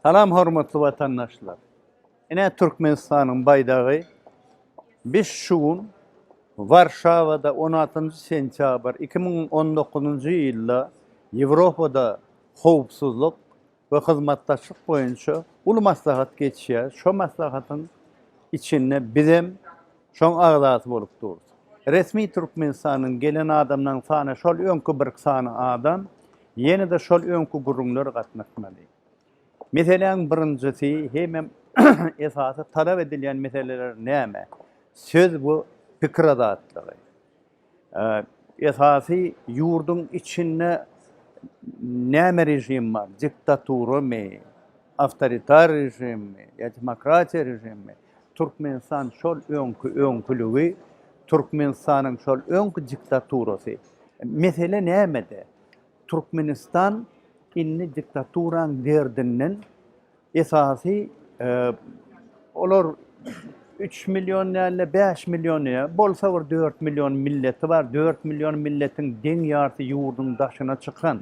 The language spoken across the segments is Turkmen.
Salam hormatly watandaşlar. Ine Türkmenistanyň baýdagy. Biz şu gün Warşawada on altynjy sentýabr iki müň on dokuzynjy ýylda Ýewropada howpsuzlyk we hyzmatdaşlyk boýunça uly maslahat geçýär. Şo maslahatyň içinde bizem Şoň agzasy bolup durus. Resmi Türkmenistanyň gelen adamlaryň sany şol öňki birk sany adam, ýene-de şol öňki gürrüňler gatnaşmaly. Meseläň birinjisi hemem esasy talap edilýän meseleler näme? Söz bu pikir azatlygy. Esasy ýurduň içinde näme režim bar, diktaturamy, awtoritar režimmi ýa demokratiýa režimmi, Türkmenistan şol öňki öňküligi, Türkmenistanyň şol öňki diktaturasy. Mesele nämede? Türkmenistan indi diktaturaň derdinden Esasy olar üç million däl-de, bäş million ýa bolsa bir dört million milleti bar. Dört million milletiň deň ýarysy ýurduň daşyna çykan.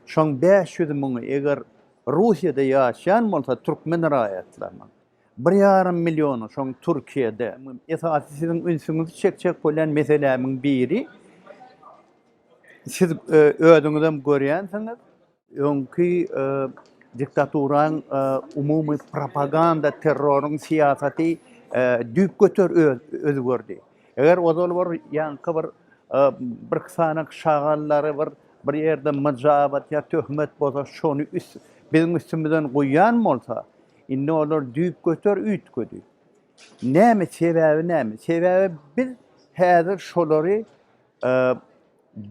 Şoň bäş ýüz müňi eger Russiýada ýaşaýan bolsa türkmen raýatlarynyň, bir ýarym milliony şoň Türkiýede. Esasy siziň ünsüňizi çekjek bolýan meselämiň biri, siz özüňizem görýänsiňiz, Öňki diktaturaň umumy propaganda terroryň syýasaty düýpgöter özgerdi. Eger ozal bir ýaňky bir birki sany şagallary bir bir ýerde myjabat ýa töhmet bolsa şony biziň üstümizden guýýan bolsa, indi olar düýpgöter üýtgedi. Näme sebäbi näme? Sebäbi biz häzir şolary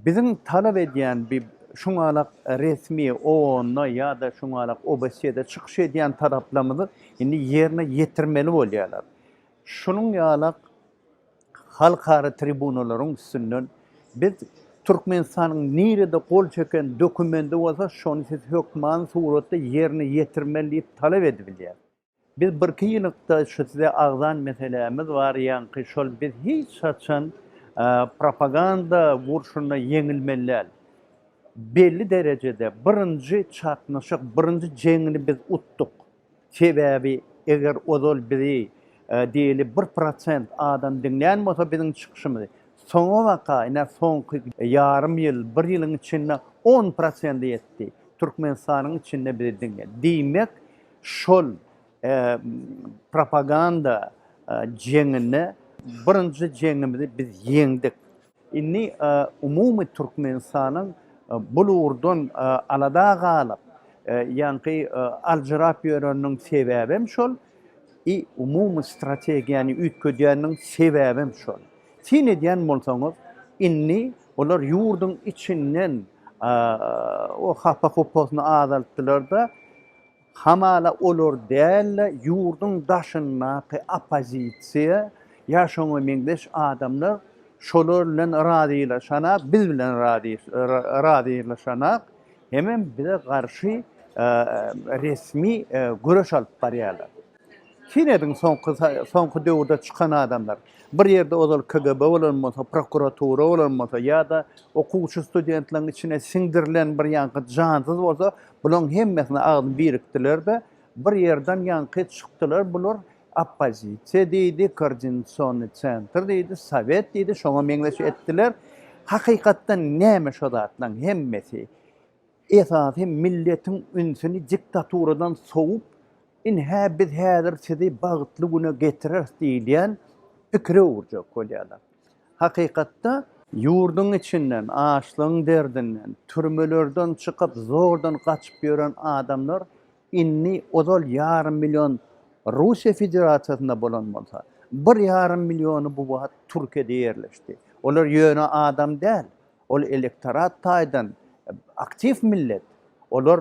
Biziň talap edýän bi şuňalak resmi OON-da ýa-da şuňalak OBSE-de çykyş edýän talaplarymyzy indi ýerine ýetirmeli bolýarlar. Şunuň ýalak halkara tribunalaryň üstünden biz Türkmenistanyň nirede gol çeken dokumendi bolsa şony siz hökmany suratda ýerine ýetirmeli diýip talap edibilýär. Biz birki ýylykda şu size agzan meselämiz bar ýaňky şol biz hiç haçan propaganda urşunda ýeňilmelidäl. Belli derejede birinji çaknyşyk birinji jeňini biz utduk. Sebäbi eger ozal bizi diýeli bir prosent adam diňlän bolsa biziň çykyşymyzy soňa baka ine soňky ýarym ýyl bir ýylyň içinde on prosende ýetdi. Türkmenistanyň içinde bizi diňledi. Diýmek Şol propaganda jeňinde birinji jeňimizi biz ýeňdik. Indi umumy Türkmenistanyň bul ugurdan alada galyp, ýaňky aljyrap ýöreniniň sebäbem şol, i umumy strategiýany üýtgedýäniniň sebäbem şol. Syn edýän bolsaňyz, indi olar ýurduň içinden o hapa-hupasyny azaltdylar-da, Hamala olar däl-de, ýurduň daşyndaky oppozisiýa ýa şoňa meňzeş adamlar şolar bilen razylaşanak, biz bilen razylaşanak, hemem bize garşy resmi göreş alyp barýarlar. Syn ediň soňky soňky döwürde çykan adamlar. Bir ýerde ozal KGB bolan bolsa, prokuratura bolan bolsa ýa-da okuwçy studentleriň içine siňdirilen bir ýaňky jansyz bolsa, bulaň hemmesine agzy birikdiler-de, bir ýerden ýaňky çykdylar, bular oppozisiýa diýdi, koordinasiony sentr diýdi, sowet diýdi, şoňa meňzeş etdiler. Hakykatdan näme şo zatlaň hemmesi? Esasy milletiň ünsüni diktaturadan sowup, ynha biz häzir sizi bagtly güne getireris diýilýän pikire öwürjek bolýarlar. Hakykatda. Ýurduň içinden, açlygyň derdinden, türmelerden çykyp zordan gaçyp ýören adamlar indi ozal ýarym million Russiýa Federasiýasynda bolan bolsa, bir ýarym milliony bu wagt Türkiýede ýerleşdi. Olar ýöne adam däl, Ol elektorat taýdan aktiw millet. Olar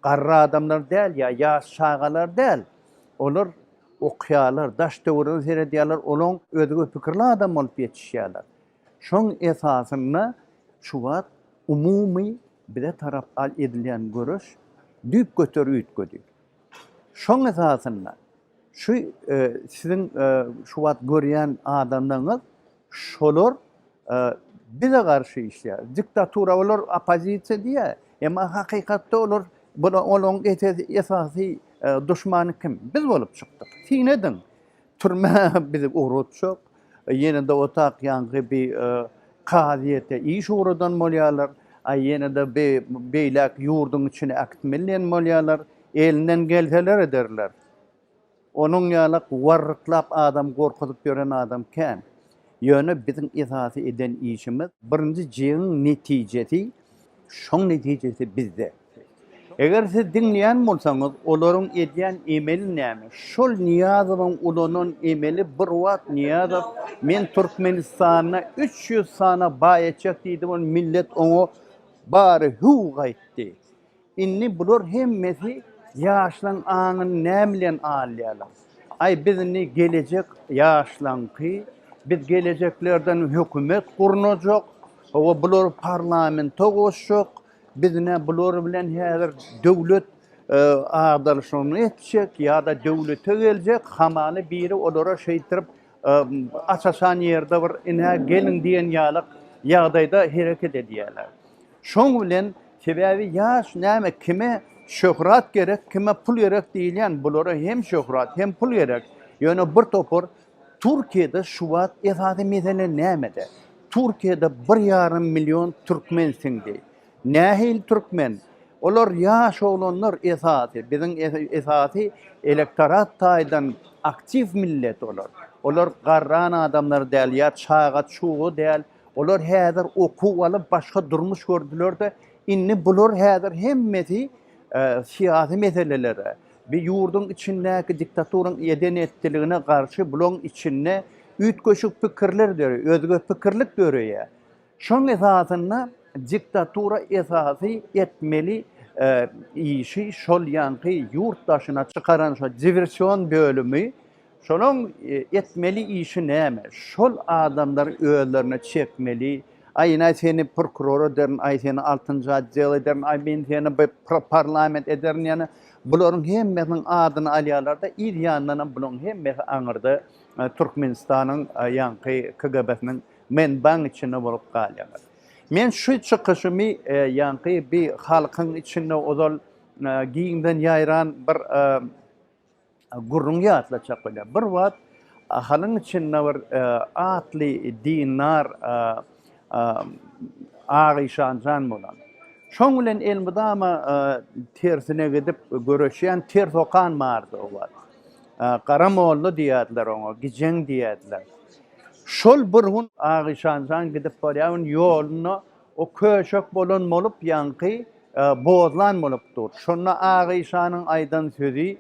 garry adamlar däl ýa ýaş çagalar däl. Olar okýarlar, daş-töwerege seredýärler, olaň özge pikirli adam bolup ýetişýärler. Şoň esasynda şu wagt umumy bize tarap edilýän göreş düýpgöter üýtgedi. Şoň esasynda Şu siziň şu wagt görýän adamlaryňyz şolar bize garşy işleýär. Diktatura olar oppozisiýa diýýär. Emma hakykatda olar olaryň esasy duşmany kim? Biz bolup çykdyk. Syn ediň. Türmä bizi ugratjak. Ýene-de otak ýaňky bi kazyýete iş ugradan bolýarlar. A ýene-de bi beýläk ýurduň içine äkit menden bolýarlar. Elinden gelseler ederler. Onuň ýalak warryklap adam gorkuzyp ýören adam kän. Ýöne biziň esasy eden işimiz. Birinji jeňiň netijesi şoň netijesi bizde. Eger siz diňleýän bolsaňyz, olaryň edýän emeli näme? Şol Nyýazowyň ulanan emeli bir wagt Nyýazow men Türkmenistanda üç ýüz sana baý etjek diýdi we millet oňa bary hüw gaýtdy. Indi bular hemmesi ýaşlaň aňyny näme bilen alýarlar? Aý biz indi gelejek ýaşlaňky, biz gelejeklerden hökümet gurnajak, hawa bulary parlamenta goşjak, Biz ine bular bilen häzir döwlet agdarşygyny etjek ýa-da döwlete geljek, hamana biri olara şeýtirip aç-açan ýerde bir ine geliň diýen ýaly ýagdaýda hereket edýärler. Şoň bilen sebäbi ýaş näme kime şöhrat gerek, kime pul gerek diýilýän, bulara hem şöhrat, hem pul gerek. Ýöne bir topar Türkiýede şuwagt esasy mesele nämede? Türkiýede bir ýarym million türkmen siňdi. Nähili türkmen? Olar ýaş oglanlar esasy. Biziň esasy elektorat taýdan aktiw millet olar. Olar garran adamlar däl ýa çaga çuga däl. Olar häzir okuw alyp başga durmuş gördülerde indi bular häzir hemmesi syýasy meselelere. Bi ýurduň içindäki diktaturyň eden-etdiligine garşy bulaň içinde üýtgeşik pikirler döreýär, özge pikirlik döreýär. Şoň esasynda diktatura esasy etmeli işi şol ýanky ýurt daşyna çykaran şo diversion bölümi, Şolaň etmeli işi näme? Şol adamlary özlerine çekmeli. Aýynaý seni prokuror ederin, aý seni altynjy otdel ederin, aý men seni parlament ederin ýene bularyň hemmesiniň adyny alýarlarda yz ýanyndanam bulaň hemmesi aňyrda Türkmenistanyň ýaňky KGB-siniň menbaň içinde bolup galýarlar. Men şu çykyşymy ýaňky bir halkyň içinde ozal giňden ýaýran bir Gürrüňi ýatlatjak bolýar. Bir wagt Ahalyň içinde bir atly dindar Aga Işan jan bolan. Şoň bilen elmydama tersine gidip göreşýän ters okan bardy o wagt. Gara molla diýerdiler oňa, gijeň diýerdiler. Şol bir gün Aga Işan jan gidip barýan ýolunda O köşek bolan bolup, ýaňky bozlan bolup dur. Şonda Ak Işanyň aýdan sözi,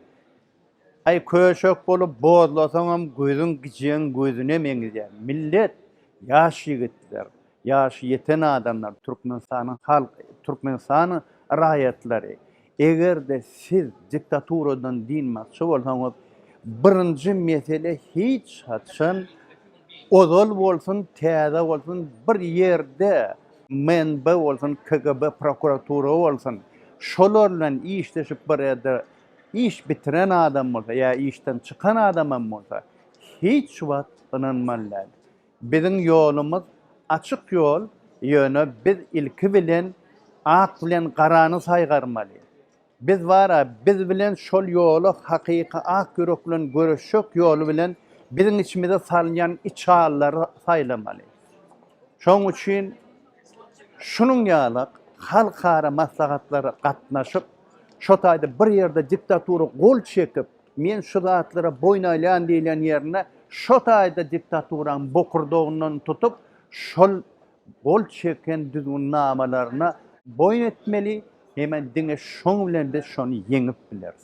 Aý, köşek bolup bozlasaňam, gözüň gijäň gözüne meňzýär. Millet, ýaş ýigitler, ýaşy ýeten adamlar, Türkmenistanyň halky, Türkmenistanyň raýatlary Eger-de siz diktaturadan dynmakçy bolsaňyz, birinji mesele hiç haçan ozal bolsun, täze bolsun, bir ýerde MNB bolsun, KGB, prokuratura bolsun, şolar bilen işleşip bir ýerde iş bitiren adam bolsa ýa işden çykan adamam bolsa, hiç wagt ynanmaly däl. Biziň ýolumyz açyk ýol, ýöne biz ilki bilen ak bilen garany saýgarmaly. Biz bar-a, biz bilen şol ýoly hakyky ak ýürek bilen göreşjek ýoly bilen biziň içimize salynýan içallary saýlamaly. Şoň üçin şunuň ýaly halkara maslahatlara gatnaşyp, şo taýda bir ýerde diktatura gol çekip, Men şu zatlara boýun alýan diýilýän ýerinde şo taýda diktaturaň bokurdagyndan tutup şol gol çeken düzgünnamalaryna boýun etmeli heme diňe şoň bilen biz şony ýeňip bileris.